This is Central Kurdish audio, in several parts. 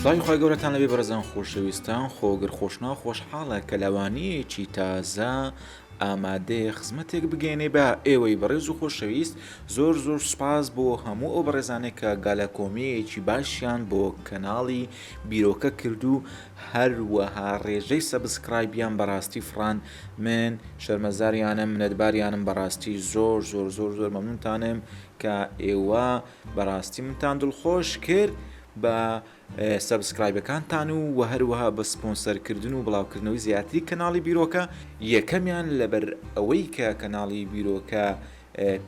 سڵاوی خۆی گەورەتان لەبێ بەرزان خۆشەویستان خۆگر خۆشنا خۆشحاڵە کە لەوانەیەکی تازە ئامادەیە خزمەتێک بگەێنێ بە ئێوەی بەڕێز و خۆشەویست زۆر زۆر سپاس بۆ هەموو ئەو بەڕێزانێک کە گالە کۆمیەکی باشیان بۆ کەناڵی بیرۆکە کرد و هەروەها ڕێژەی سەبسکرایبیان بەڕاستی فران من شەرمەزاریانم منەتباریانم بەڕاستی زۆر زۆر زۆر زۆر مەمنونتانم کە ئێوە بەڕاستی منتان دڵخۆش کرد بە سەبسکرایبەکانتان و وە هەروەها بە سپۆنسەرکردن و بڵاوکردنەوەی زیاتری کەناڵی بیرۆکە یەکەمیان لەبەر ئەوەی کە کەناڵی بیرۆکە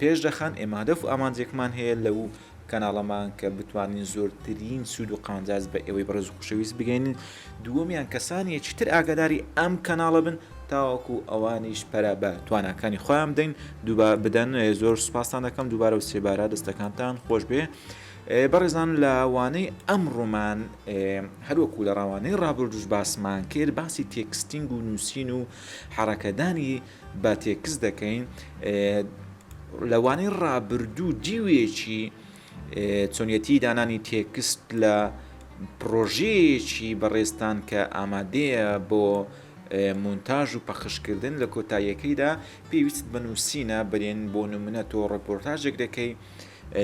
پێش دەخەن، ئێمە هەدەف و ئامانجێکمان هەیە لەو کەناڵەمان کە بتوانین زۆرترین سوود و قانجاز بە ئێوەی بەڕێز و خوشەویست بگەینن دووەمیان کەسانیەکی تر ئاگاداری ئەم کەناڵە بن تاوەکو ئەوانیش پەرە بە تواناکانی خۆیان بدەین دووبا بدەن زۆر سوپاستان دەکەم دووبارە و سێبارە دەستەکانتان خۆش بێ بەڕێزان لە وانەی ئەم ڕوومان هەروەکو لە ڕاوانەی ڕابردوش باسمان کرد باسی تێکستینگ و نووسین و حڕەکەدانی با تێکست دەکەین لەوانەی ڕابردوو دیوێکی چۆنیەتی دانانی تێکست لە پرۆژەیەکی بەڕێزتان کە ئامادەیە بۆ مونتاژ و پەخشکردن لە کۆتاییەکەیدا پێویست بە نووسینە برێن بۆ نمونە تۆ ڕۆپۆرتاژێک دەکەی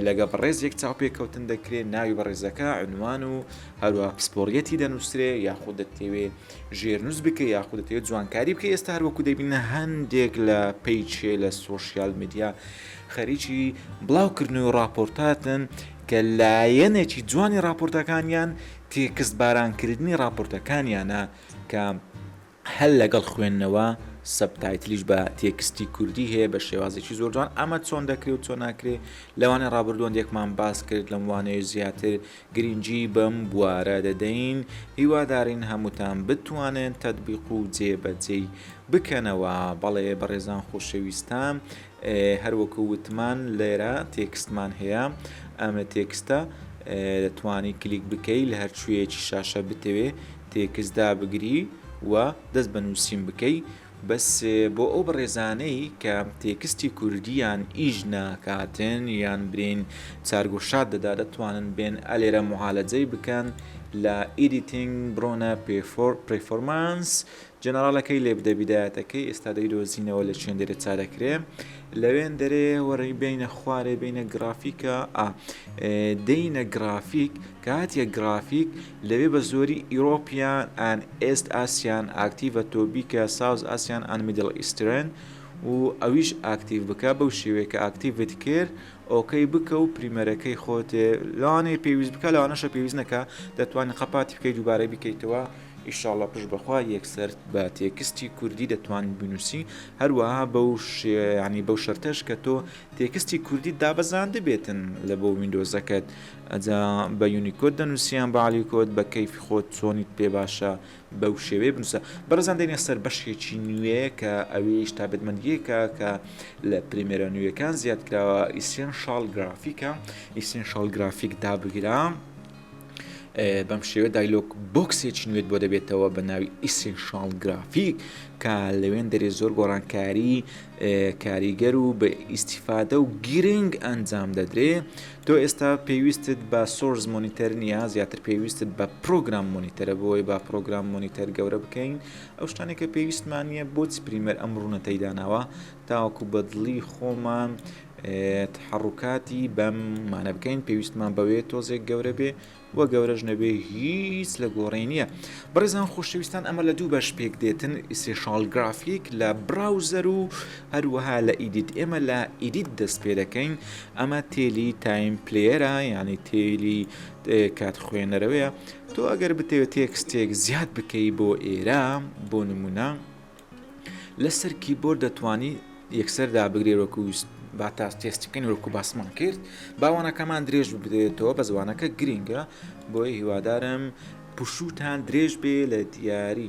لەگەڵ بەڕێزێک چاوپێکەوتن دەکرێ، ناوی بەڕێزەکە، عونوان و هەروەها پسپۆڕیەتی دەنووسرێ، یاخود دەتەوێ ژێرنووس بکەی یاخود دەتەوێ جوانکاری بکەی، ئێستا هەر وەکو دەبینە هەندێک لە پەیچێ لە سۆشیال میدیا خەریکی بڵاوکردنەوەی ڕاپۆرتاتن کە لایەنێکی جوانی ڕاپۆرتەکانیان تێکست بارانکردنی ڕاپۆرتەکانیانە کە هەر لەگەڵ خوێندنەوە سەبتایتلیش بە تێکستی کوردی هەیە بە شێوازێکی زۆر جوان ئەمە چۆن دەکرێ و چۆن ناکرێ لەوانێ ڕابردووەندێکمان باس کرد لەم وانەیە زیاتر گرنگی بەم بوارە دەدەین هیوادارین هەمووتان بتوانن تەتبیق و جێبەجێی بکەنەوە بەڵێ بەڕێزان خۆشەویستان هەر وەکو وتمان لێرە تێکستمان هەیە ئەمە تێکستە دەتوانی کلیک بکەی لە هەرچوویەکی شاشە بتەوێ تێکست دابگری و دەست بە نووسین بکەی بەس بۆ ئەو بەڕێزانەی کە تێکستی کوردیان ئیش ناکاتن یان برین چارگوشاد دەدا دەتوانن بێن ئەلێرە معالەجەی بکەن لە ئیدیتنگ برۆنە پێفۆر پرفۆرمانس جەنەڕاڵەکەی لێ بدە بیدایەتەکەی ئێستا دەیدۆزینەوە لە چێندێرێ چارەکرێ لەوێندەرەیە وەڕی بینە خوارێ بینە گرافیکە ئا دینە گرافیک کاتیە گرافیک لەوێ بە زۆری ئیرۆپیان ئەن ئێست ئاسیان ئاکتیڤە تۆبیکە ساوز ئاسیان ئەن میدل ئیسترن و ئەویش ئاکتیڤ بکە بەو شێوەیە کە ئاکتیڤت کرد ئۆکەی بکە و پریمەرەکەی خۆتێ لانەی پێویست بکە لەوانەشە پێویست نەکە دەتوانین قەپاتی بکەی دووبارەی بکەیتەوە ئیشاڵڵا پشت بەخوا یەکسەر بە تێکستی کوردی دەتوانی بنووسی هەروەها بەو ینی بەو شەرتەش کە تۆ تێکستی کوردی دابەزاند بێتن لە بۆ وینندۆزەکەت ئەجا بە یونیکۆت دەنووسیان بالیکۆت بە کەیفی خۆت چۆنیت پێ باشە بەو شێوەیە بنووسە بەڕزان دێنە سەر بەشێکی نوێ کە ئەویش تا بەدمەندیەکە کە لە پرمێرە نوێەکان زیاد کراوە ئیسیان شال گرافیکە ئیسیان شال گرافیک دابگرام. بەم شێوە دایلۆک بۆکسێکی نوێت بۆ دەبێتەوە بە ناوی ئیسنشال گرافیک کە لەوێن دەرێ زۆر گۆڕانکاری کاریگەر و بە ئیسیفادە و گیرنگ ئەنجام دەدرێ تۆ ئێستا پێویستت بە سۆرز مۆنیتەر نییە زیاتر پێویستت بە پرۆگرام مۆنیتەرە بۆی با پرۆگرام مۆنیتەر گەورە بکەین ئەو شتانێکە پێویستمانە بۆ چ پریمەر ئەم ڕوونەتەی داناوە تاوەکو بەدڵی خۆمان تەحەڕوکاتی بەم مانە بکەین پێویستمان بەوێ تۆزێک گەورە بێ و گەورەش نەبێ هیچ لە گۆڕێ نییە بڕێزان خۆشەویستان ئەمە لە دوو بەش پێک دێتن ئیسێشال گرافیک لە براوزەر و هەروەها لە ئیدیت ئێمە لە ئیدیت دەست پێ دەکەین ئەمە تێلی تایم پلێرە یعنی تێلی کات خوێنەرەوەیە تۆ ئەگەر بتەوێت تێکستێک زیاد بکەی بۆ ئێرە بۆ نمونە لەسەر کیبۆرد دەتوانی یەکسەر دابگرێت وەکو با تا تێستەکەین وەکو باسمان کرد باوانەکەمان درێژ بدرێتەوە بە زوانەکە گرنگە بۆی هیوادارم پشوتان درێژ بێ لە دیاری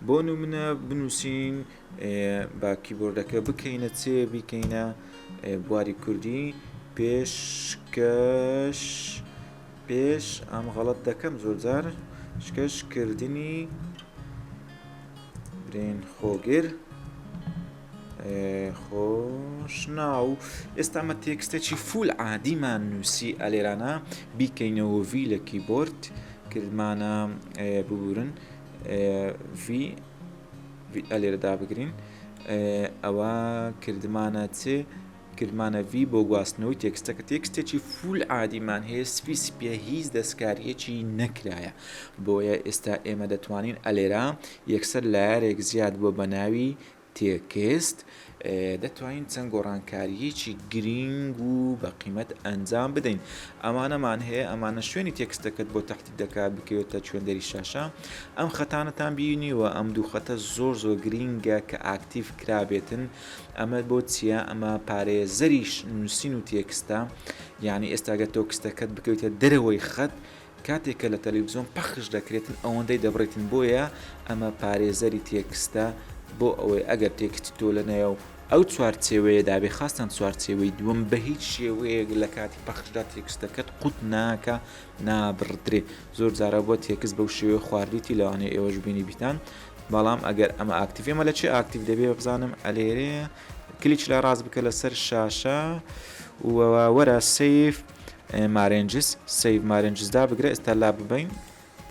بۆ نمونە بنووسین با کیبۆردەکە بکەینە چێ بیکەینە بواری کوردی پێشکەش پێش ئەم غەڵت دەکەم زۆرجار شکەشکردنی برین خۆگر خۆشناو ئێستا مە تێکستێکی فول عادیمان نووسی ئەلێرانە بیکەینەوە وی لە کیبۆرد کردمانە ببورن ئەلێرەدا بگرین ئەوە کردمانە چێ گرمانەڤی بۆ گواستنەوەی تێکستەکە تێکستێکی فول عادیمان هەیە سپی سپیە هیچ دەستکاریەکی نەکرایە بۆیە ئێستا ئێمە دەتوانین ئەلێرا یەکسەر لایەرێک زیاد بۆ بەناوی تێکست دەتوانین چەند گۆڕانکاریەکی گرینگ و بە قیمەت ئەنجام بدەین ئەمانەمان هەیە ئەمانە شوێنی تێکستەکەت بۆ تاحتی دەکات بکەوێتە چێندەری شاشە ئەم خەتانەتان بینیوە ئەم دوو خەتە زۆر زۆر گرینگە کە ئاکتیف کرابێتن ئەمە بۆ چیە ئەمە پارێزەری نووسین و تێکستە یعنی ئێستاگە تۆ کستەکەت بکەویتە دەرەوەی خەت کاتێک کە لە تەلەویزیۆن پەخش دەکرێتن ئەوەندەی دەبڕێتن بۆیە ئەمە پارێزەری تێکستە بۆ ئەوەی ئەگەر تێکستی تۆ لە نایە و ئەو چوارچێوەیە دابێ خاستان چوارچێوەی دووەم بە هیچ شێوەیەک لە کاتی پەخشدا تێکستەکەت قوت ناکە نابڕدرێ زۆر جارە بۆ تێکست بەو شێوەیە خواردویتی لەوانەیە ئێوەش بینی بیتان بەڵام ئەگەر ئەمە ئاکتیڤ ئەمە لە چێ ئاکتیڤ دەبێ بزانم ئەلێرێ کلیچ لە ڕاست بکە لەسەر شاشە وەرە سیف مارنجس سیف مارنجزدا بگرە ئێستا لا ببین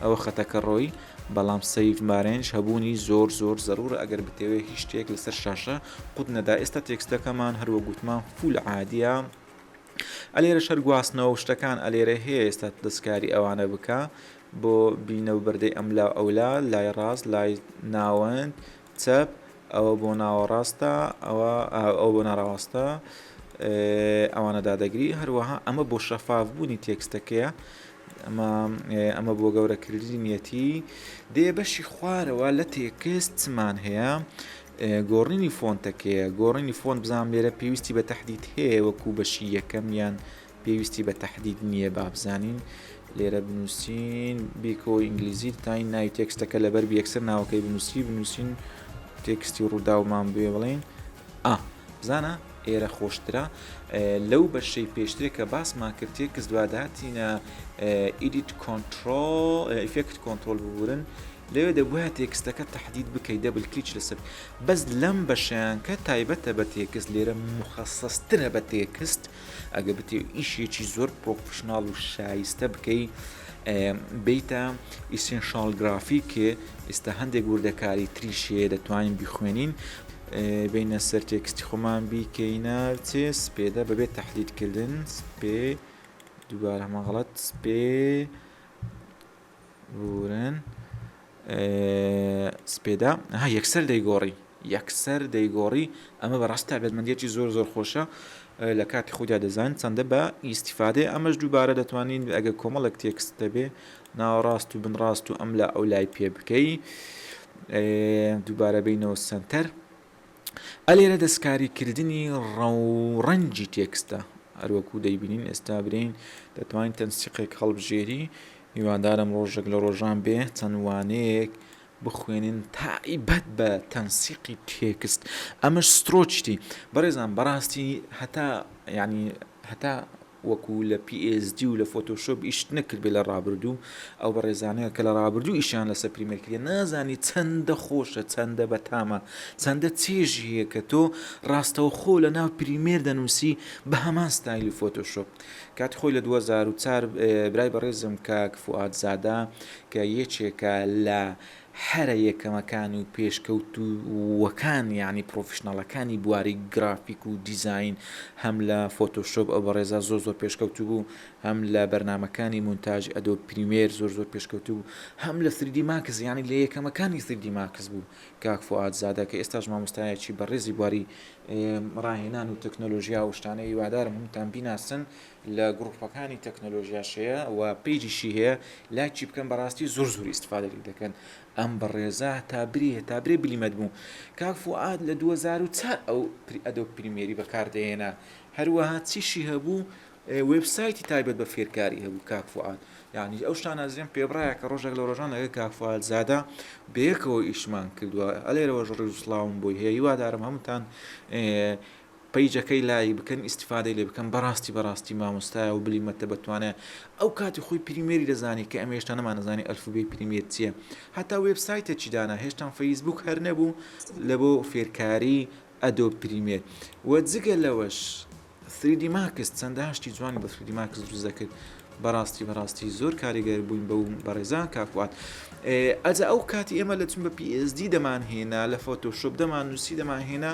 ئەوە خەتەکە ڕۆی بەڵام سیف مارنج هەبوونی زۆر زۆر زەرورە ئەگەر بتەوێت هیچ شتێک لەسەر شاشە قوت نەدا ئێستا تێکستەکەمان هەروە گوتمان فول عادە ئەلێرە شەر گواستنەوە شتەکان ئەلێرە هەیە ئێستا دەستکاری ئەوانە بکە بۆ بینە و بەردەی ئەملا و ئەولا، لای ڕاست، لای ناوەند، چەپ، ئەوە بۆ ناوەڕاستە، ئەوە ئەوە بۆ ناراواستە، ئەوانە دادەگری هەروەها ئەمە بۆ شەفافبوونی تێکستەکەیە ئەمە ئەمە بۆ گەورەکردنیەتی دێ بەشی خوارەوە لە تێکست چمان هەیە گۆڕینی فۆنتەکەیە گۆڕینی فۆن بزانام لێرە پێویستی بە تهدید هەیە وەکو بەشی یەکەم یان پێویستی بە تەحدید نییە بابزانین لێرە بنووسین بیکۆ ئینگلیزی تاین نای تێکستەکە لەبەر یەکسەر ناوەکەی بنووسی بنووسین تێکستی ڕووداومان بێ بڵین ئا بزانە ئێرە خۆشترە لەو بەشەی پێشترێ کە باسمان کرد تێکس دواداتینە ئیدیت کۆنتترۆل ئفکت کۆنتترۆل ببورن لەوێ دەبە تێکستەکە تهدید بکەی دەبل کلیچ لەسەر بەس لەم بەشیان کە تایبەتە بە تێکست لێرە مخەسەسترە بە تێکست ئەگەر بتێ ئیشێکی زۆر پرۆفشنناڵ و شایستە بکەی بیتە ئیسنشال گرافی کێ ئێستا هەندێک وردەکاری تریشێ دەتوانین بخوێنین بینە سەر تێکستی خۆمان بیکەینە چێ سپێدە بەبێت تهدیدکردن سپێ دووبارە هەمەغڵەت سپێ بوورن سپێدا ها یەکسەر دەیگۆڕی یەکسەر دەیگۆڕی ئەمە بەڕاست تابێتمەندێتی زۆر زۆر خۆشە لە کاتی خودیا دەزانین چەندە بە ئیسیفادێ ئەمەش دووبارە دەتوانین ئەگە کۆمەڵک تێکست دەبێ ناوەڕاست و بنڕاست و ئەم لە ئەو لای پێ بکەی دووبارە بینەوە سنتەر ئە لێرە دەستکاری کردنی ڕەوڕەنگی تێکستە هەروەکو دەیبینین ئێستا برین دەتوانین تەنسیقێک هەڵبژێری هیوادارم ڕۆژێک لە ڕۆژان بێ چەند وانەیەک بخوێنین تایبەت بە تەنسیقی تێکست ئەمەش سترۆچتی بەڕێزان بەڕاستی هەتا ینی هەتا وەکو لە پی ئێس جی و لە فۆتۆشۆپ ئیشت نەکردبێ لە ڕابردوو ئەو بەڕێزانە کە لە ڕابردوو ئیشیان لەسەر پریمەر کردیە نازانی چەندە خۆشە چەندە بەتامە چەندە چێژی هەیە کە تۆ ڕاستەوخۆ لە ناو پریمێر دەنووسی بە هەمان ستایلی فۆتۆشۆپ کاتی خۆی لە 2004 برای بەڕێزم کاک فوئاد زادە کە یەکێکە لە هەرە یەکەمەکان و پێشکەوتووەکان یانی پڕۆفیشناڵەکانی بواری گرافیک و دیزاین هەم لە فۆتۆشۆپ ئەو بەڕێزە زۆر زۆر پێشکەوتوو بوو هەم لە بەرنامەکانی مونتاژی ئەدۆب پریمێر زۆر زۆر پێشکەوتوو بوو هەم لە سریدی ماکس یانی لە یەکەمەکانی سریدی ماکس بوو کاک فوئاد زادە کە ئێستاش مامۆستایەکی بەڕێزی بواری ڕاهێنان و تەکنۆلۆژیا و شتانە هیوادارم هەمووتان بیناسن لە گڕوپەکانی تەکنەلۆژیاش هەیە و پەیجیشی هەیە لایکی بکەن بەڕاستی زۆر زۆر ئیستفادە لێی دەکەن ئەم بەڕێزە هەتا برێ هەتا برێ بلیمەت بوو کاک فوئاد لە دوو هەزار و چار ئەو ئەدۆب پریمیەری بەکاردەهێنا هەروەها چیشی هەبوو وێبسایتی تایبەت بە فێرکاری هەبوو کاک فوئاد یعنی ئەو شتانە ئەزیان پێبڕایە کە ڕۆژێک لە ڕۆژان لەگەڵ کاک فوئاد زادە بەیەکەوە ئیشمان کردووە ئەلێرەوەش ڕیز و سڵاوم بۆی هەیە هیوادارم هەمووتان پەیجەکەی لایک بکەن ئیستیفادەی لێ بکەن بەڕاستی بەڕاستی مامۆستایە و بلی مەتە بەتوانایە ئەو کاتی خۆی پریمێری دەزانی کە ئەمە هێشتا نەمان نەزانی ئەلفوبێی پریمێر چیە هەتا وێب سایتێکی دانا هێشتان فەیسبووک هەر نەبوو لە بۆ فێرکاری ئەدۆب پریمێر و جگە لەوەش سریدی ماکس چەندەها شتی جوانی بە سریدی ماکس دروست دەکرد بەڕاستی بەڕاستی زۆر کاریگەر بووین بەو بەڕێزان کاکوات ئەجا ئەو کاتی ئێمە لە چون بە PSD دەمان هێنا لە فۆتۆشۆپ دەمان نووسی دەمان هێنا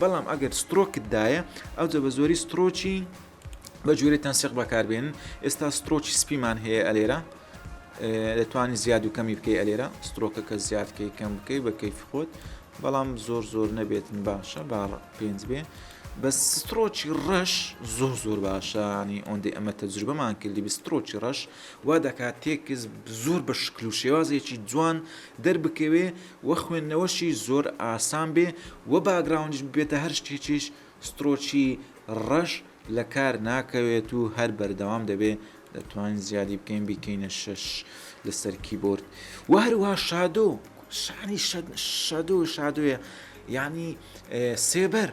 بەڵام ئەگەر سترۆکت دایە ئەوجە بە زۆری سترۆکی بە جوورێ تەنسیق بەکاربێن ئێستا سترۆکی سپیمان هەیە ئەلێرە دەتوانانی زیاد و کەمی بکەی ئەلێرە سترۆکەکە زیادکەی کەم بکەی بە کەیف خۆت بەڵام زۆر زۆر نەبێتن باشە با پێنج بێ بە سترۆکی ڕەش زۆر زۆر باشانی ئۆندی ئەمە تەجروبەمان کردی بە سترۆکی ڕەش وا دەکات تێکس زۆر بە شکل و شێوازێکی جوان دەربکەوێ وە خوێندنەوەشی زۆر ئاسان بێ وە باگراوندیش ببێتە هەر شتێکیش ستڕۆکی ڕەش لەکار ناکەوێت و هەر بەردەوام دەبێ دەتوانین زیادی بکەین بیکەینە شەش لەسەر کیبۆرد وە هەروەها شادۆ شانی شەدۆ شادۆیە یانی سێبەر.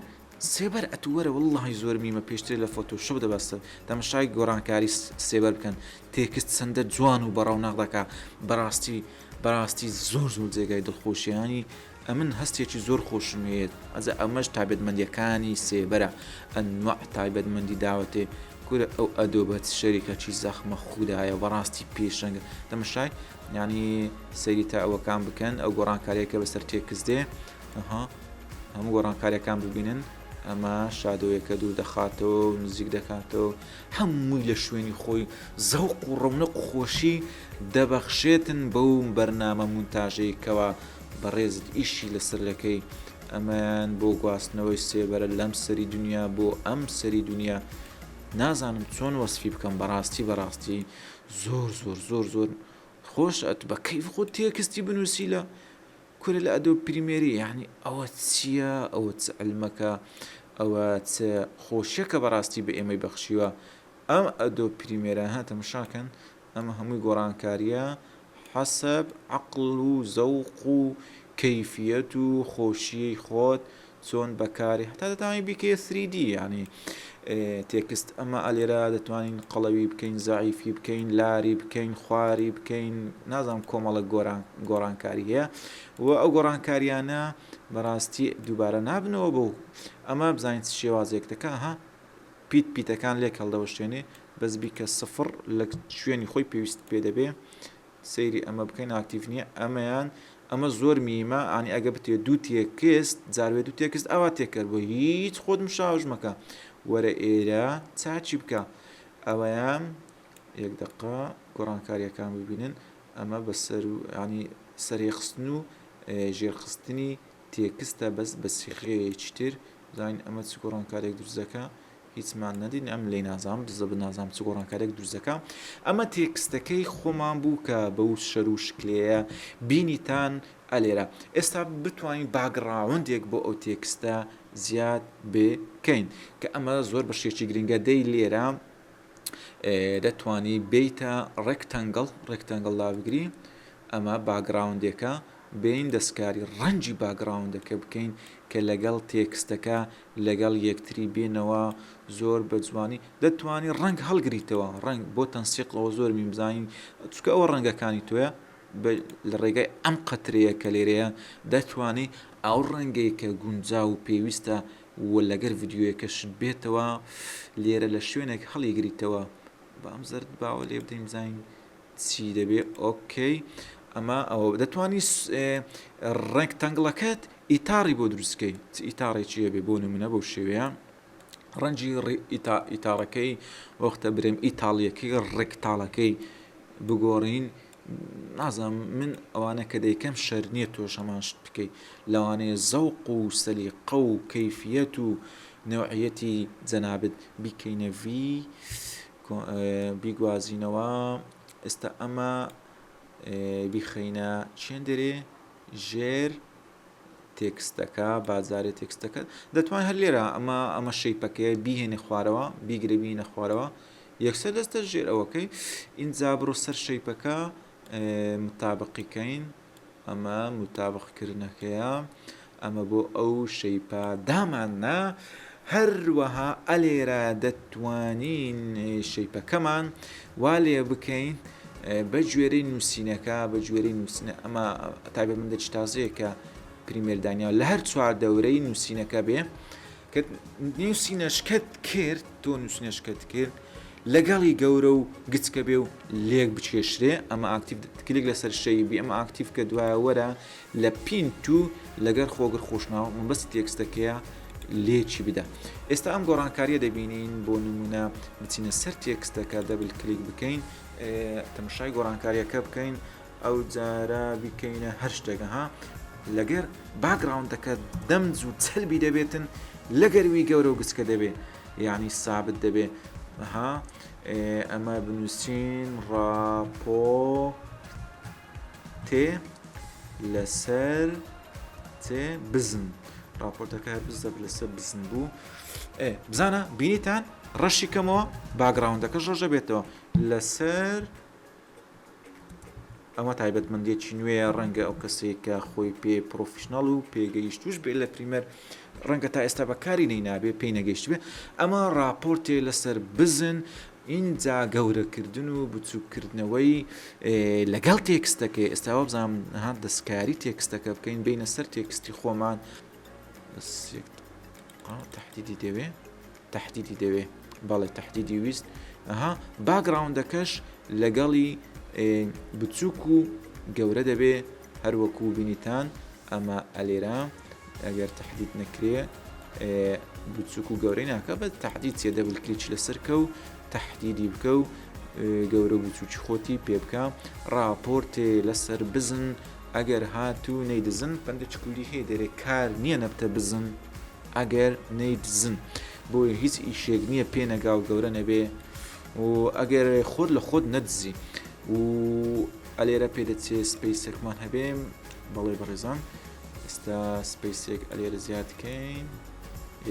سێبەر ئەتوو وەرە وەڵاهی زۆر میمە پێشترێ لە فۆتۆ شۆپ دەبا سە تەمەشای گۆرانکاری سێبەر بکەن تێکست چەندە جوان و بەڕەونەق دەکا بەڕاستی بەڕاستی زۆر زۆر جێگای دڵخۆشیانی ئەمن هەستێکی زۆر خۆشم هەیەت ئەزە ئەمەش تابێتمەندیەکانی سێبەرە ئەنوە تایبەتمەندی داوەتێ کورە ئەو ئەدۆ بەت شەریکە چی زەخمە خودایە بەڕاستی پێشەنگە تەمەشای ینی سەیری تا ئەوەکان بکەن ئەو گۆڕانکاریەکە بەسەر تێکست دێ هەموو گۆڕانکاریەکان ببینن ئەمە شادۆیەکە دوور دەخاتەوە و نزیک دەکاتەوە هەمووی لە شوێنی خۆی زەوق و ڕەونە قوخۆشی دەبەخشێتن بەو بەرنامە مونتاژەی کەوا بەڕێزت ئیشی لەسەر دەکەی ئەمەیان بۆ گواستنەوەی سێبەرە لەم سەری دنیا بۆ ئەم سەری دنیا نازانم چۆن وەسفی بکەم بەڕاستی بەڕاستی زۆر زۆر زۆر زۆر خۆش ئەت بە کەیف خۆ تێکستی بنووسی لە کورە لە ئەدۆب پریمێری یەعنی ئەوە چیە ئەوە چ علمەکە ئەوە چ خۆشیەکە بەڕاستی بە ئێمەی بەخشیوە ئەم ئەدۆب پریمێرە ها تەمشاکەن ئەمە هەمووی گۆڕانکاریە حەسەب عەقڵ و زەوق و کەیفیەت و خۆشیەی خۆت چۆن بەکاری هەتا دەتوانانی بیکەیە سریدی یعنی تێکست ئەمە ئەلێرا دەتوانین قەڵەوی بکەین زعیفی بکەین لاری بکەین خواری بکەین نازانم کۆمەڵە گۆران گۆڕانکاری هەیە و ئەو گۆڕانکاریانە بەڕاستی دووبارە نابنەوە بۆ ئەمە بزانین شێوازێک دەکە ها پیت پیتەکان لێک هەڵدەوەشێنێ بەس بیکە سفر لە شوێنی خۆی پێویست پێ دەبێ سەیری ئەمە بکەن ئاکتیڤ نیە ئەمەیان ئەمە زۆر میمە ئانی ئەگە بتێ دوو تێکست جاروێ دوو تێکست ئاوا تێکەر بۆ هیچ خۆت مشاوش مەکە وەرە ئێرە چاچی بکە ئەوەیان یەک دقا گۆڕانکاریەکان ببینن ئەمە بەسەر و ینی سەرێخستن و ژێرخستنی تێکستە بەس بەسیخەیەکی تر زانین ئەمە چ گۆڕانکارێک درزەکە هیچمان نەدی ئەم لێی نازانم دزە بە نازانم چ گۆڕانکارێک دروست دەکا ئەمە تێکستەکەی خۆمان بوو کە بەو شەر و شکلەیە بینیتان ئەلێرە ئێستا بتوانین باگڕاوندێک بۆ ئەو تێکستە زیاد بکەین کە ئەمە زۆر بە شێکی گرنگە دەی لێرە دەتانی بیتە ڕێکتەنگڵ ڕێکتەنگڵ لابگری ئەمە باگراوندێکە بین دەستکاری ڕەنجی باگراوندەکە بکەین کە لەگەڵ تێکستەکە لەگەڵ یەکتری بێنەوە زۆر بە جوانی دەتوانی ڕەنگ هەڵگریتەوە ڕەنگ بۆ تەنسیقەوە زۆر میم زانین چکە ئەوە ڕەنگەکانی تۆیە لە ڕێگای ئەم قەترەیە کە لێرەیە دەتوانی ئەو ڕەنگەی کە گونجا و پێویستە و لەگەر ڤیددیوەکەشت بێتەوە لێرە لە شوێنێک هەڵیگریتەوە بەم زەرد باوە لێ بدەین زین چی دەبێ ئۆکەی ئەمە ئەوە دەتوانی ڕێک تەنگڵەکەت ئیتاڕی بۆ دروستکەی چ ئیتاڕێکی هەبێ بۆ نمونە بەو شێوەیە ڕەنجی ئیتاڕەکەی وەختە برێم ئیتاڵیەکەی ڕێکتاڵەکەی بگۆڕین نازم من ئەوانە کە دەیکەم شەر نییە تۆش هەمانشت بکەیت لەوانەیە زەوق و سەلیقە و کەفیەت و نەوعەتی جەنابەت بیکەینەڤی بیگوازینەوە ئێستا ئەمە بیخەینە چێندێرێ ژێر تێکستەکە بازارێ تێکستەکە دەتوان هەر لێرە ئەمە ئەمە شەیپەکەیە بیهێنی خوارەوە بیگرە بینە خوارەوە یەکسەر دەستە ژێر ئەوەکەی ئینجا بڕۆ سەر شەیپەکە متابقیکەین ئەمە متابق کردنەکەیە ئەمە بۆ ئەو شەیپا دامان نا هەروەها ئەلێرا دەتوانین شەیپەکەمان وا لێ بکەین بە گوێرەی نووسینەکە بە گوێرەی نووسینە ئەمە تابێ من دەچ تازەیەکە پریمێردانیا لە هەر چوار دەورەی نووسینەکە بێ کە نوسینەشکەت کرد تۆ نوسینەشکەت کرد لەگەڵی گەورە و گچکە بێ و لێک بچێشرێ ئەمە ئاکتیف کلیک لەسەر شەی بێ ئەمە ئاکتیف کە دوایەوەرە لە پین تو لەگەر خۆگر خۆشناوە من بەس تێکستەکەیە لێکی بدە ئێستا ئەم گۆڕانکاریە دەبینین بۆ نمونە بچینە سەر تێکستەکە دەبل کلیک بکەین تەمەشای گۆڕانکاریەکە بکەین ئەوجارە بیکەینە هەر شتێک ها لەگەر باکگراوندەکە دەمج و چەلبی دەبێتن لەگەر وی گەورە و گچکە دەبێ یعنی سابت دەبێ ها ئەمە بنووسین ڕاپۆ تێ لەسەر تێ بزن راپۆرتەکە بزە لەسەر بزن بوو بزانە بینیتان ڕەشی کەمەوە باگراوندەکە ڕۆژە بێتەوە لەسەر ئەمە تایبەتمەندیەکی نوێیە ڕەنگە ئەو کەسەی کە خۆی پێ پرۆفیشنەڵ و پێگەیشتوش بێ لە پریمەر ڕەنگە تا ئێستا بەکاری نەی نابێ پێی نەگەیشت بێ ئەمە راپۆرتێ لەسەر بزن ئینجا گەورەکردن و بچووکردنەوەی لەگەڵ تێکستەکە ئێستا وابزانام ها دەستکاری تێکستەکە بکەین بینە سەر تێکستی خۆمان تهدیدی دەوێ تەحدیدی دەوێ بەڵێ تەحدیدی ویست ئەها باگراوندەکەش لەگەڵی بچووک و گەورە دەبێ هەروەکو بینیتان ئەمە ئەلێرا ئەگەر تەحدید نەکرێ بچووک و گەورەی ناکە بە تەحدید سێ دەبل کلیچ لەسەرکە و تەحدیدی بکە و گەورە بچووکی خۆتی پێ بکە راپۆرتێ لەسەر بزن ئەگەر هاتوو نەیدزن پندچکولی هەیە دەرێ کار نییە نەبتە بزن ئەگەر نەیدزن بۆ هیچ ئیشێک نییە پێ نەگا و گەورە نەبێ و ئەگەر خۆت لە خۆت نەدزی و ئەلێرە پێ دەچێ سپیسێکمان هەبێ بەڵێ بەڕێزان ئێستا سپیسێک ئەلێرە زیادکەین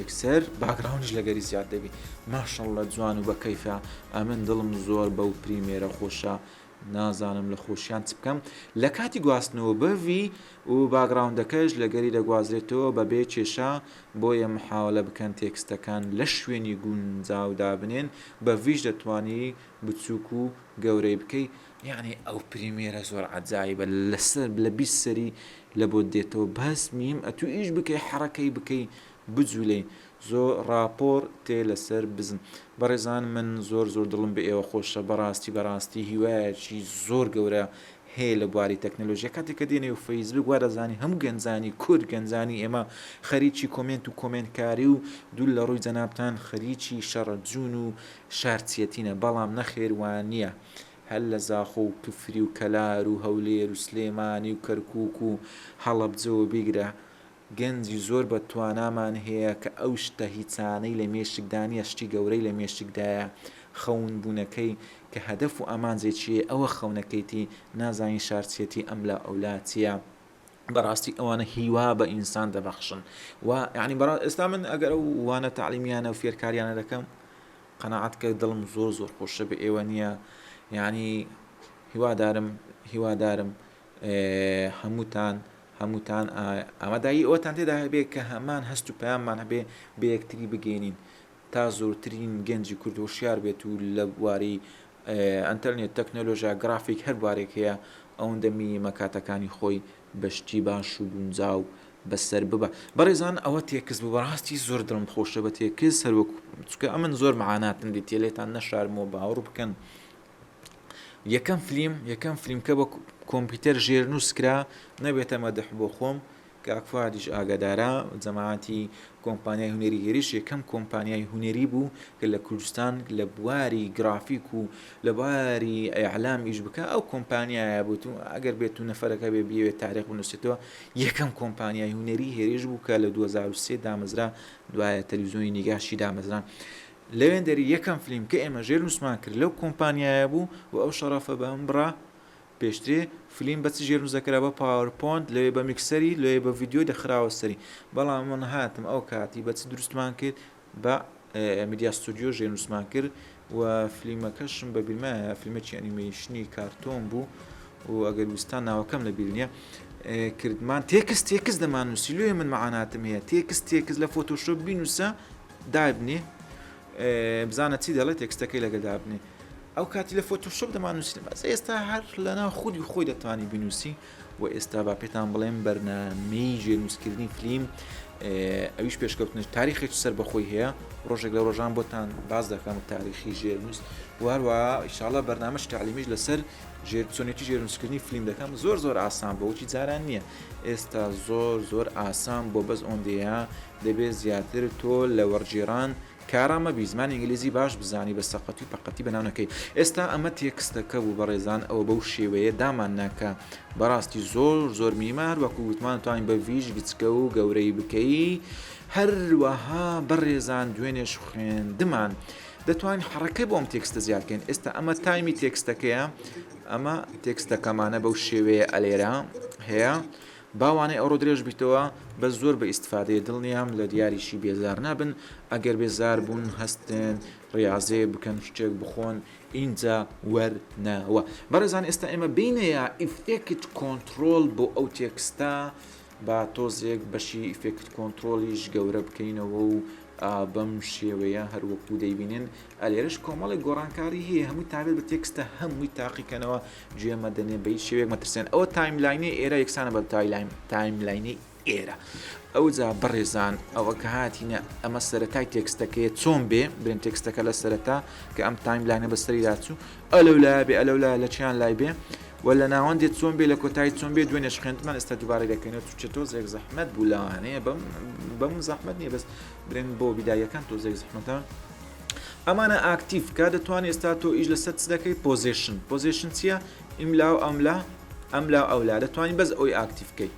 یەکسەر باگراونش لەگەری زیاد دەبی ماشەڵ لە جوان و بە کەیفە ئەمن دڵم زۆر بەو پریمێرە خۆشە نازانم لە خۆشیان چ بکەم لە کاتی گواستنەوە بڤی و باگڕاوندەکەش لەگەری دەگوازرێتەوە بەبێ کێشە بۆیە محاوەلە بکەن تێکستەکان لە شوێنی گونجاو دابنێن بە ڤیش دەتوانی بچوک و گەورەی بکەی یەعنی ئەو پریمێرە زۆر عەجایبە لە بیست سەری لە بۆت دێتەوە بەس میم ئەتوو ئیش بکەی حەڕەکەی بکەی بجولێین زۆ ڕاپۆڕ تێ لەسەر بزن. بەڕێزان من زۆر زۆر دڵم بە ئێوە خۆشە بەڕاستی بەڕاستی هیوایەکی زۆر گەورە هەیە لە بواری تەکنەلۆژیا کاتێک کە دێ نێو فەیسبوک وا دەزانی هەموو گەنجانی کورد گەنجانی ئێمە خەریکی کۆمێنت و کۆمێنتکاری و دوور لە ڕووی جەنابتان خەریکی شەڕە جوون و شارچیەتینە بەڵام نەخێر وانیە هەر لە زاخۆ و کفری و کەلار و هەولێر و سلێمانی و کەرکوک و هەڵەبجەوە بیگرە گەنجی زۆر بە توانامان هەیە کە ئەو شتە هیچانەی لە مێشکدا نیە شتی گەورەی لە مێشکدایە خەون بونەکەی کە هەدەف و ئامانجێکیی ئەوە خەونەکەیتی نازانی شارچیەتی ئەم لا ئەو لا چیە بەراستی ئەوانە هیوا بە ئینسان دەبەخشن وا یانی بەرا ئێستا من ئەگەر ئەو وانە تەعلیمیانە و فێرکاریانە دەکەم قەناعەت کە دڵم زۆر زۆر خۆشە بە ئێوە نیە یانی هیوادارم هیوادارم هەمووتان هەمووتان ئامادەیی ئەوەتان تێدا هەبێت کە هەمان هەست و پەیاممان هەبێ بە یەکتری بگەینین تا زۆرترین گەنجی کورد هۆشیار بێت و لە بواری ئەتەرنێت تەکنەلۆژیا گرافیک هەر بوارێک هەیە ئەوەندە میمە کاتەکانی خۆی بەشتی باش و گونجاو بەسەر ببە بەڕێزان ئەوە تێکس بوو بەڕاستی زۆر دڵم خۆشە بە تێکس سەروەک چکە ئەمن زۆر معاناتم دیتێلێتان نەشارمەوە باوەڕ بکەن یەکەم فلیم یەکەم فلیم کە بە کۆمپیوتەر ژێرنووس کرا نەبێتە مەدح بۆ خۆم کاک فادیش ئاگادارە جەماعەتی کۆمپانیای هونەری هێریش یەکەم کۆمپانیای هونەری بوو کە لە کوردستان لە بواری گرافیک و لە باری ئەعلام ئیش بکە ئەو کۆمپانیایە بوت و ئەگەر بێت و نەفرەکە بێ بیوێت تاریخ بنووسێتەوە یەکەم کۆمپانیای هونەری هێریش بوو کە لە 2023 دامەزرا دوایە تەلویزیۆنی نیگاشی دامەزران لەوێندەری یەکەم فلیم کە ئێمە ژێر نووسمان کرد لەو کۆمپانیایە بوو و ئەو شەڕەفە بە من بڕا پێشترێ فلیم بە چ ژێر نووس دەکرا بە پاوەر پۆنت لەوێ بە میکسەری لەوێ بە ڤیدیۆ دەخراوە سەری بەڵام من هاتم ئەو کاتی بە چ دروستمان کرد بە میدیا ستۆدیۆ ژێر نووسمان کرد و فلیمەکەشم بە بیرمایە فیلمێکی ئەنیمەیشنی کارتۆن بوو و ئەگەر ویستان ناوەکەم لە بیر نییە کردمان تێکس تێکس دەمان نووسی لێ من مەعاناتم هەیە تێکس تێکس لە فۆتۆشۆپ بینوسە دابنێ بزانە چی دەڵێت تێکستەکەی لەگە دابنێ ئەو کاتی لە فۆتۆشپ دەمانوسین بەس ئێستا هەر لەنا خودی خۆی دەتوانانی بنووسی و ئێستا با پێتان بڵێم بەرنمەی ژێنووسکردنی فلیم ئەویش پێشکەوتنش تاریخێک سەر بەخۆی هەیە ڕۆژێک لە ڕۆژان بۆتان باز دەکەم تاریخی ژێرنووس واروا ئیشاڵە بەرنمەش تعلیمیش لەسەر ژێر چۆنێتی ژێرنووسکردنی فلیم دەکەم زۆر زۆر ئاسان بۆچی جاران نییە ئێستا زۆر زۆر ئاسان بۆ بەس ئۆندەیە دەبێ زیاتر تۆ لە وەڕگێڕان کارا مەبی زمانی ئینگلیزی باش بزانی بە سەقەتی و پەقەتی بەناو نەکەی ئێستا ئەمە تێکستەکە بوو بەڕێزان ئەوە بەو شێوەیە دامان نا کە بەڕاستی زۆر زۆر مینیمە هەروەکو وتمان توانین بە ڤیش بچکە و گەورەی بکەی هەروەها بەڕێزان دوێنێش خوێندمان دەتوانین حڕەکەی بۆم تێکستە زیادکەین ئێستا ئەمە تایمی تێکستەکەیە ئەمە تێکستەکەمانە بەو شێوەیە ئەلێرە هەیە با وانەی ئەوڕۆ درێژ بیتەوە بەس زۆر بە ئیستفادەیە دڵنیام لە دیاریی بێزار نابن ئەگەر بێزار بوون هەستێن ڕیازێ بکەن شتێک بخۆن ئینجا وەرنەوە بەڕێزان ئێستا ئێمە بینە یا ئیفێکت کۆنترۆل بۆ ئەو تێکستە با تۆزێک بەشی ئیفێکت کۆنترۆلیش گەورە بکەینەوە و بەم شێوەیە هەروەکو دەیبینن ئەلێرش کۆمەڵی گۆڕانکاری هەیە هەمووی تابێت بە تێکستە هەمووی تاقیکەنەوە گوێ مەدەنێ بە هیچ شێوەیەک مەترسێن ئەوە تایملاینی ئێرە یەکسانە بە تایملاینی ئێرە ئەوجا بەڕێزان ئەوە کە هاتینە ئەمە سەرەتای تێکستەکەی چۆن بێ برێن تێکستەکە لە سەرەتا کە ئەم تایملاینە بەسەری داچوو ئەلو لا بێ ئەلو لا لە چیان لای بێ و لە ناوەند دێت چۆن بێ لە کۆتایی چۆن بێ دوێنێش خوێندمان ئێستا دوبارە دەکەینەوە چ تۆزێک زەحمەت بوو لەوانەیە بەم بەم زەحمەت نیە بەس برێن بۆ بیدایەکان تۆزێک زەحمەتە ئەمانە ئاکتیڤ کا دەتوان ئێستا تۆ ئیش لەسەر چ دەکەی پۆزیشن پۆزیشن چییە ئیملا و ئەملا ئەملا ئەولا دەتوانین بەس ئەوی ئاکتیف بکەی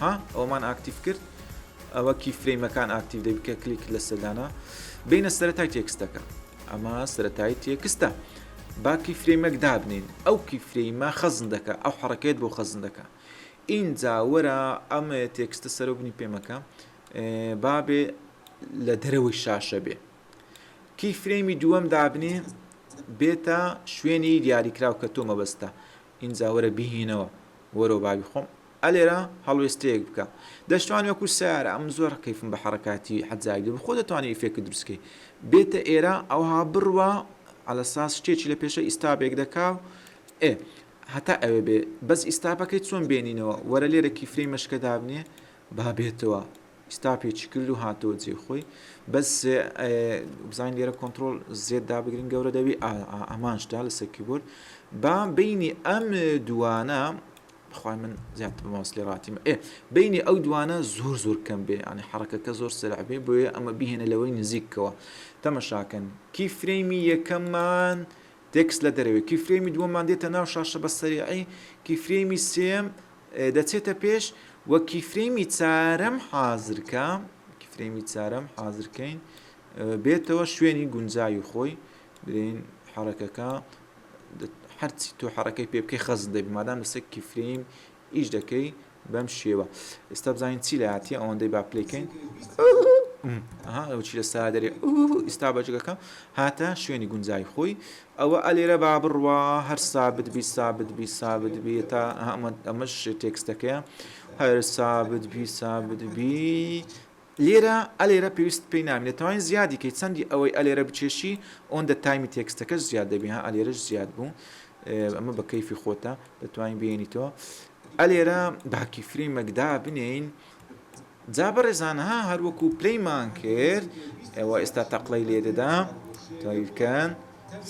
ها ئەومان ئاکتیف کرد ئەوە کی فرەیمەکان ئاکتیو دەبی کە کلیک لە سەدانا بینە سەرەتای تێکستەکە ئەمە سەتای تێکستە باکی فرەیمەک دابنین ئەو کی فرەیمە خەزن دەکە ئەو حڕکێت بۆ خەزن دەکە ئینجا وەرە ئەمە تێکستە سەرۆبنی پێمەکە بابێ لە دەرەوەی شاشە بێ کی فرێمی دووەم دابنێ بێتە شوێنی دیاریکراو کە تۆ مەبەستە ئینجا وەرە بیهینەوە وەرەوە باوی خۆم ئەلێرە هەڵوێستەیەک بکە دەشتوان وەکو سارە ئەم زۆر ڕقیفم بە حرکاتی حەجاوی بخۆ دەتوانانی ئیفێکت دروستکەی بێتە ئێرە ئەوها بڕوا على ساس شتێکی لە پێشە ئیستابێک دەکا ئێ هەتا ئەوێ بێ بەس ئیستاپەکەی چۆن بێنینەوە وەرە لێرە کیفرەی مەشکە دابنێ با بێتەوە ئیستا پێچی کردو هاتەوە جێ خۆی بەس بزانین لێرە کۆنتترۆل زێت دابگرین گەورە دەبی ئامانجدا لەسەر کیبورد با بینی ئەم دوانە بخوای من زیاتر ماوس لێ ڕاتیم ئێ بینی ئەو دوانە زۆر زۆر کەم بێ ئەنی حڕەکەکە زۆر سرعبێ بۆیە ئەمە بهێنە لەوەی نزیکەوە تەمەشاکەن کی فرەیمی یەکەممان تێکست لە دەرەوەی کیفرەیمی دووەممان دێتە ناو شاشە بە سەریعی، کیفرەیمی سێیەم دەچێتە پێش و کیفرەیمی چارەم حازر کە، کیفرەیمی چارەم حازر کەین بێتەوە شوێنی گونجاوی خۆی، برێین حەڕەکەکە هەرچی تۆ حەڕەکەی پێ بکەی خەزن دەبی مادام لەسەر کیفرەیم ئیش دەکەی بەم شێوە ئێستا بزانین چی لایەتی ئەوەندەی با پلی کەین چی لە سا دەرێ ئیستا بەجگەکە هاتە شوێنی گونجای خۆی ئەوە ئەلێرە با بڕوا هەر سابت بی سابت بی سابت بی تا ئەمەش تێکستەکەیە هەر سابت بی سابت بی لێرە ئەلێرە پێویستت پێی نابێ دەتوانی زیادی کەی چەندی ئەوەی ئەلێرە بکێشی ئەوەندە تایمی تێکستەکەش زیاد دەبی ها ئەلێرەش زیاد بوو ئەمە بە کەیفی خۆتە دەتوانین بێنیتەوە ئەلێرە باکی فری مەکدا بنین جا بەڕێزان ها هەروەکو پلەیمان کرد ئەوە ئێستا تەقلەی لێ دەدا تاویکەن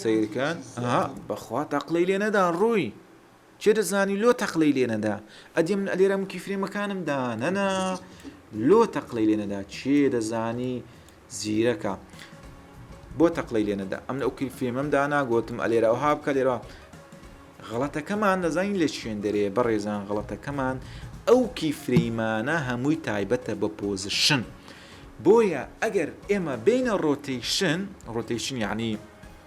سیرکەن ها بەخوا تەقلەی لێ نەدا ڕووی کێ دەزانی لۆ تەقلەی لێ نەدا ئەدی من ئەلێرە مکی فرێمەکانم دانەنا لۆ تەقلەی لێ نەدا کێ دەزانی زیرەکە بۆ تەقلەی لێ نەدا ئەم ئەو کیل فرێمەم دانا گوتم ئەلێرە ئەو ها بکە لێرە غڵەتەکەمان دەزانین لە شوێندەرێ بەڕێزان غڵەتەکەمان ئەو کی فرەیمانە هەمووی تایبەتە بە پۆزشن بۆیە ئەگەر ئێمە بینە ڕۆتەیشن ڕۆتەیشن یعنی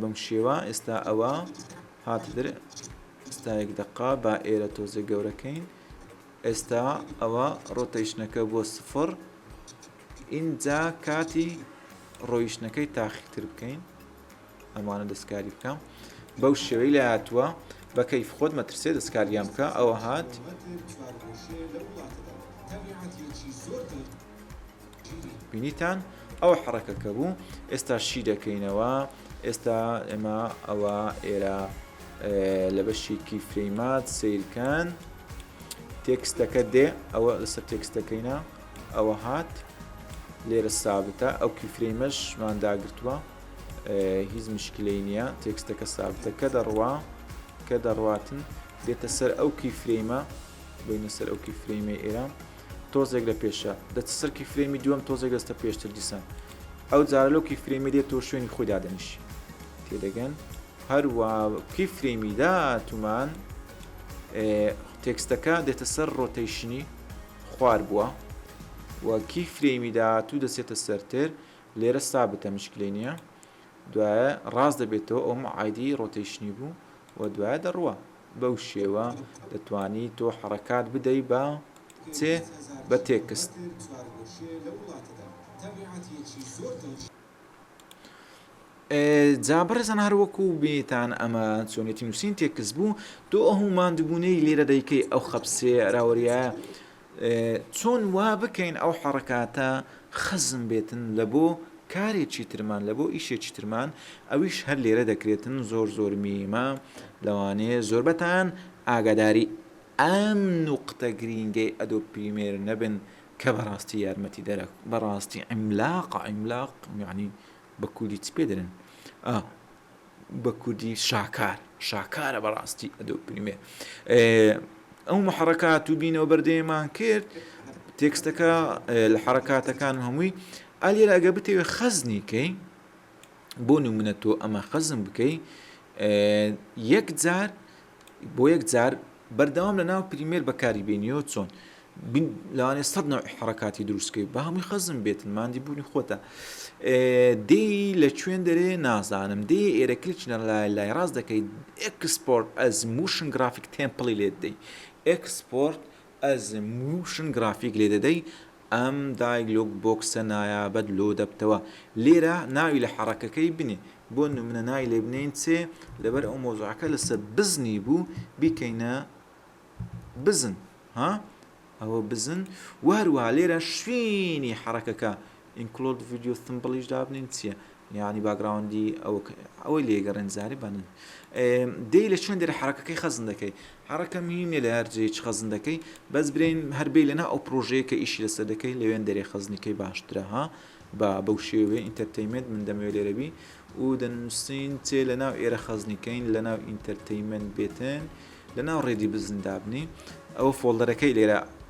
بەم شێوە ئێستا ئەوە هاتدر ئستایەک دقا با ئێرە تۆزێک گەورەکەین ئێستا ئەوە ڕۆتەیشنەکە بۆ سفر ئینجا کاتی ڕۆیشتنەکەی تاخیتر بکەین ئەمانە دەستکاری بکەم بەو شێوەی لە هاتووە بە کەیف خۆت مەترسێ دەستکاریان بکە ئەوە هات زۆر بینیتان ئەو حڕەکەکە بوو ئێستا شی دەکەینەوە ئێستا ئێمە ئەوە ئێرە لە بەشێکی فرەیمات سیرکەن تێکستەکە دێ ئەوە لەسەر تێکستەکەینە ئەوە هات لێرە سابتە ئەو کیفرەیمەشمان داگرتووە هیچ مشکلەی نییە تێکستەکە سابتە کە دەڕوا کە دەڕاتن دێتە سەر ئەو کیفرەیمە بینە سەر ئەو کیفرەیمە ئێرە تۆزێک لە پێشە دەچ سەر کیفرێمی دووەم تۆزێک دەستە پێشتر دیسان ئەو جارە لەو کیفرێمی دێت تۆ شوێنی خۆی دادەنیشی تێدەگەن هەروە کیفرێمی داتومان تێکستەکە دێتە سەر ڕۆتەیشنی خوار بووە و کی فرێمی داهاتوو دەچێتە سەرتر لێرە سابتە مشکلی نییە دوایە ڕاست دەبێتەوە ئەوم عادی ڕۆتەیشنی بوو و دوایە دەڕوە بەو شێوە دەتوانی تۆ حەڕەکات بدەی بە چێ بە تێکست. جا بەڕێزان هەر وەکو بێتان ئەمە چۆنێتی نووسین تێکست بوو تۆ ئەو ماندوبوونەی لێرە دەیکەی ئەو خەپسێ راوەریایە چۆن وا بکەین ئەو حەڕەکاتە خەزن بێتن لە بۆ کارێکی ترمان لە بۆ ئیشێکی ترمان ئەویش هەر لێرە دەکرێتن زۆر زۆر میمە لەوانەیە زۆربەتان ئاگاداری ئەم نوقتە گرینگەی ئەدۆ پریمێر نەبن کە بەڕاستی یارمەتی دەرە بەڕاستی ئەملاق ئەملاق یعنی بە کوردی چ پێ دەرن بە کوردی شاکار شاکارە بەڕاستی ئەدۆ پریمێ ئەو محڕکات و بینەوە بەردەێمان کرد تێکستەکە لە حرکاتەکان هەمووی ئالێرە ئەگە بتەوێ خەزنی کەی بۆ نمونە تۆ ئەمە خەزم بکەی یەک جار بۆ یەک جار بەردەوام لە ناو پریمێر بەکاری بێنیەوە چۆن لەوانێ سەد نەوع حڕکاتی دروستکەی بە هەمووی خەزم بێتن مادی بوونی خۆتە دێ لە کوێن دەرێ نازانم دێ ئێرە کلچ لە لای لای ڕاست دەکەیت ئەکسپۆرت ئەز موشن گرافیک تێمپڵی لێت دەی ئەکسپۆرت ئەز مووشن گرافیک لێ دەدەی ئەم دای لۆک بۆکسە نایابەت لۆ دەبتەوە لێرە ناوی لە حەڕەکەکەی بنێ بۆ نمونە ناوی لێ بنێین چێ لەبەر ئەو مەوزوعەکە لە سە بزنی بوو بیکەینە بزن ها ئەوە بزن وە هەروەها لێرە شوینی حەڕەکەکە ئینکلۆد ڤیدیۆ ثمبڵیش دابنێن چیە یانی باگراوندی ئەو ئەوەی لێگەڕێن زاری بەنن دەی لە چۆن دێرە حرەکەکەی خەزن دەکەی حرەکە مینێ لە هەرجێچ خەزن دەکەی بەس برین هەربی لەنا ئەو پرۆژەیە کە ئیشی لەسەر دەکەی لەوێن دەرێ خەزنیکەی باشترە ها بە بەو شێوێ ئینتەرتەیمنت من دەمەوێت لێرەبی و دەنووسین چێ لە ناو ئێرە خەزنیکەین لە ناو ئینتەرتەیمنت بێتن لە ناو ڕێدی بزن دابنی ئەوە فۆلدەرەکەی لێرە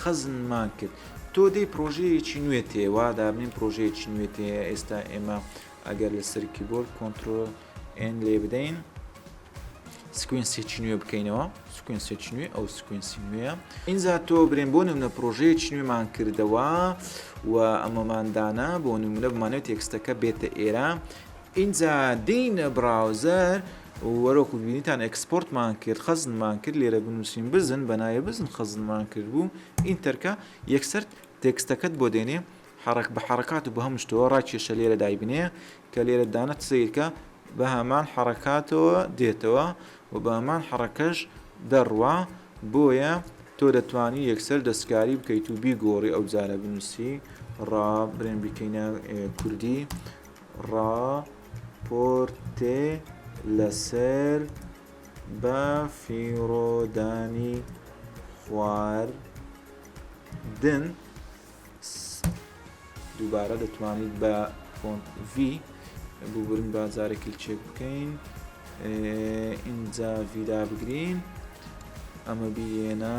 خەزنمان کرد تۆ دەی پرۆژەیەکی نوێت هەیە وا دابنێن پرۆژەیەکی نوێت هەیە ئێستا ئێمە ئەگەر لەسەر کیبۆرد کۆنتترۆل ئێن لێ بدەین سکوینسێکی نوێ بکەینەوە سکوینسێکی نوێ ئەو سکوینسی نوێە ئینجا تۆ برێن بۆ نمونە پرۆژەیەکی نوێمان کردەوە و ئەمەماندانە بۆ نمونە بمانێت تێکستەکە بێتە ئێرە ئینجا دێینە بڕاوزەر و وەرۆکو بینیتان ئێکسپۆرتمان کرد خەزنمان کرد لێرە بنووسین بزن بە ناوێ بزن خەزنمان کرد بوو ئینتەرکە یەکسەر تێکستەکەت بۆ دێنێ حرەک بە حرەکات و بە هەموو شتەوە ڕاکێشە لێرە دایبنێ کە لێرە دانەت سەیرکە بە هەمان حرەکاتەوە دێتەوە و بە هەمان حرەکەش دەڕوا بۆیە تۆ دەتوانی یەکسەر دەستکاری بکەیت و بیگۆڕی ئەو جارە بنووسی ڕا برێن بیکەینە کوردی ڕاپۆرتێ لەسەر بە فیڕۆدانی خواردن دووبارە دەتوانیت بە فۆنت V ببورن با جارێک کلچێک بکەین ئینجا ڤیدا بگرین ئەمە بیێنە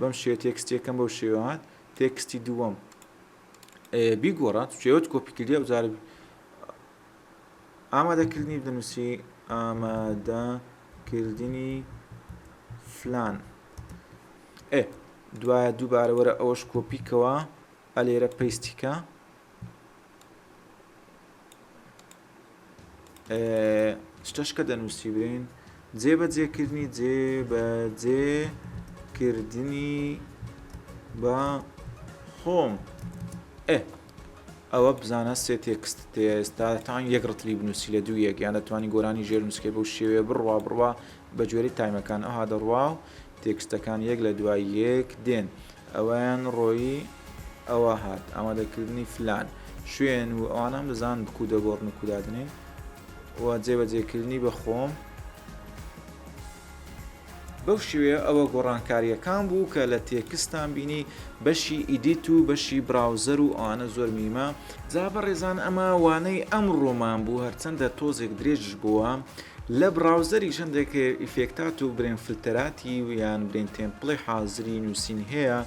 بەم شێوە تێکستی یەکەم بەو شێوە هات تێکستی دووەم بیگۆڕە چێوت کۆپی کردی ئەو جارە ئامادەکردنی دەنووسی ئامادەکردنی فلان ئێ دوایە دووبارەوەرە ئەوەش کۆپیکەوە ئە لێرە پەیستی کە شتەشکە دەنووسی برین جێ بە جێکردنی جێ بە جێکردنی بە خۆم ئێ ئەوە بزانە سێ تێکست ئێستا تاان یەک ڕتلی بنووسی لە دوو یەک یان دەتوانانی گۆرانی ژێر نووسکەی بەو شێوێ بڕوا بڕوا بە جۆری تایمەکان ئەها دەڕوا و تێکستەکان یەک لە دوای یەک دێن ئەویان ڕۆیی ئەوە هات ئامادەکردنی فلان شوێن و ئەوانەم دەزان بکوو دەگۆڕن و کودادنین و جێبەجێکردنی بە خۆم بەو شێوەیە ئەوە گۆڕانکاریەکان بوو کە لە تێکستان بینی بەشی ئیدیت و بەشی براوزەر و ئەوانە زۆر میمە جا بەڕێزان ئەمە وانەی ئەم ڕۆمان بوو هەرچەندە تۆزێک درێژش بووە لە بڕاوزەریش هەندێک ئیفێکتات و برێن فلتەراتی و یان برێن تێمپڵی حازری نووسین هەیە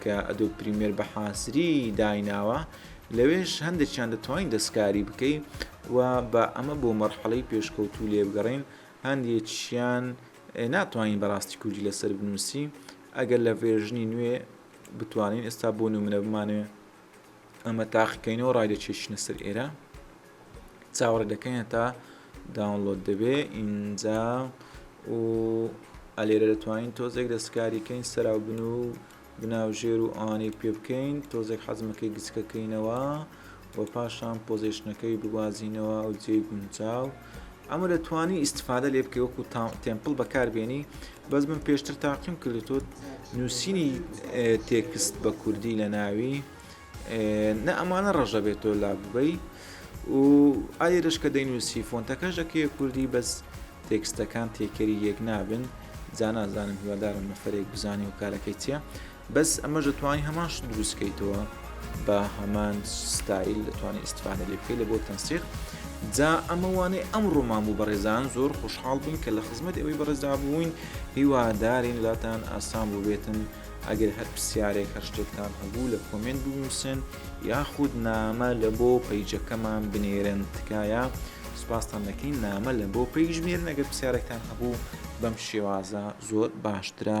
کە ئەدۆ پریمێر بە حازری دایناوە لەوێش هەندێکیان دەتوانین دەستکاری بکەین و بە ئەمە بۆ مەرحەڵەی پێشکەوتوو لێبگەڕین هەندێکیان ناتوانین بەڕاستی کوردی لەسەر بنووسی ئەگەر لە ڤێژنی نوێ بتوانین ئێستا بۆ نمونە بمانێ ئەمە تاقیکەینەوە ڕایدەچێشنە سەر ئێرە چاوەڕێ دەکەینە تا داونلۆد دەبێ ئینجا و ئەلێرە دەتوانین تۆزێک دەستکاریکەین سەراو بن و بناو ژێر و ئەوانەی پێ بکەین تۆزێک حەزمەکەی گچکەکەینەوە و پاشان پۆزیشنەکەی بگوازینەوە ئەو جێ گونجاو ئەمە دەتوانی ئیستفادە لێ بکەی وەکو تێمپڵ بەکاربێنی بەس من پێشتر تاقیم کردێتۆ نووسینی تێکست بە کوردی لە ناوی نە ئەمانە ڕژە بێت تۆ لا ببەی و ئایرش کە دەینووسی فۆنتەکەش دەکەی کوردی بەس تێکستەکان تێکەری یەک نابن جانازانم هیوادارم نەفرێک بزانانی و کارەکەی چیە بەس ئەمەش دەتوانی هەمان شت دروست کەیتەوە بە هەمان ستایل دەتوانانی ئیسفادە لێ بکەی لە بۆ تەنسیق جا ئەمە وانەی ئەم ڕۆمان بوو بەڕێزان زۆر خۆشحاڵ بووین کە لە خزمەت ئەوەی بەڕێزدا بووین هیوادارین لاتان ئاسان بووبێتن ئەگەر هەر پرسیارێک هەر شتێکتان هەبوو لە کۆمنت بنووسن یاخود نامە لە بۆ پەیجەکەمان بنێرن تکایە سپاستان دەکەین نامە لە بۆ پێیش بێرن ئەگەر پرسیارێکتان هەبوو بەم شێوازە زۆر باشترە